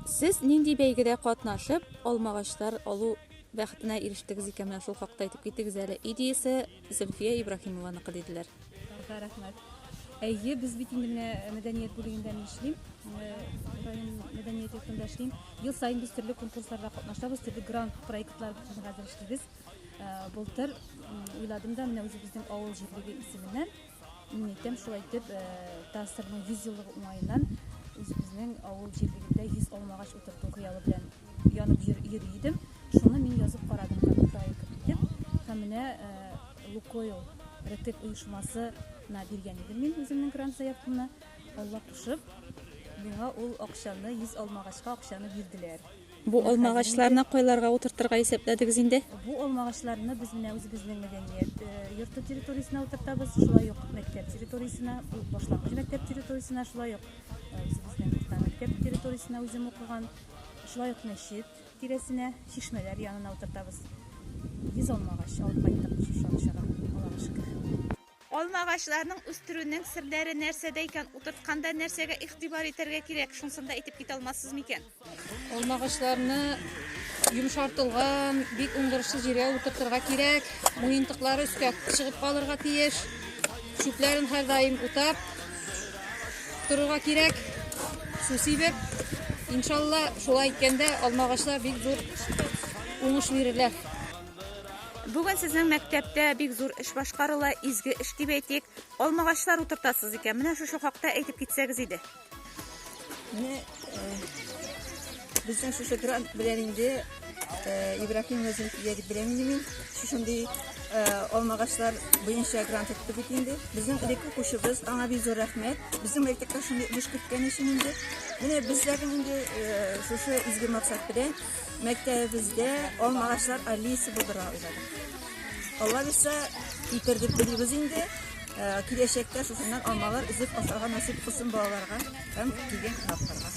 Сез нинди бәйгедә катнашып, алмагачлар алу бәхетенә ирештегез икән, менә шул хакта әйтеп китегез әле. Идеясе Зөлфия Ибраһимованыкы, диделәр. Ага, рәхмәт. Әйе, без бит инде менә мәдәният бүлегендә мин эшлим, э, район мәдәният йортында эшлим. Ел саен без төрле конкурсларда катнашабыз, төрле грант проектлар белән хәзер эшлибез. Э, Былтыр м, уйладым да менә үзебезнең авыл җирлеге исеменнән Мин әйтәм, шулай итеп, э, театрның 100 еллыгы уңаеннан үзебезнең авыл җирлегендә 100 алмагач утырту хыялы белән янып йөр, йөри идем. Шуны мин язып карадым как проект итеп. Һәм менә э, Лукойл Ретек оешмасына биргән идем мин үземнең грант заявкамны. Алла кушып, миңа ул акчаны 100 алмагачка акчаны бирделәр. Бу алмагачларны кайларга утыртырга исәпләдегез инде? Бу алмагачларны без менә үзебезнең мәдәният э, йорты территориясенә утыртабыз, шулай ук мәктәп территориясенә, башлангыч мәктәп территориясенә, шулай ук э, үзебезнең урта мәктәп территориясенә үзем укыган, шулай ук мәчет тирәсенә, чишмәләр янына утыртабыз. Йөз алмагач алып кайттык шушы акчага, Аллага шөкер. Алма агачларының үстерүнең серләре нәрсәдә икән? Утыртканда нәрсәгә игътибар итәргә кирәк? Шунсын да әйтеп китә алмассыз микән? Алма агачларны йомшартылган, бик уңдырышсыз җиргә утыртырга кирәк. Муентыклары өскә чыгып калырга тиеш. Чүпләрен һәрдаим утап торырга кирәк. Су сибеп, иншалла, шулай иткәндә алма агачлар бик зур уңыш бирерләр. Бүген сезнең мәктәптә бик зур эш башкарыла, изге эш дип әйтик. Алмагачлар утыртасыз икән. Менә шушы хакта әйтеп китсәгез иде. Менә безнең шушы грант белән инде Ибрахим Назим дип беләм инде мин. Шушындый алмагачлар буенча грант итте бит инде. Безнең элек укучыбыз, аңа бик зур рәхмәт. Безнең мәктәптә шундый эш көткән өчен инде. Менә безләрнең инде шушы изге максат белән Мәктәбебездә алма агачлар аллеясы булдыра уйладык. Алла бирсә, китердек белибез инде. Ә, Киләчәктә шушыннан алмалар өзеп ашарга насыйп кылсын балаларга һәм килгән кунакларга.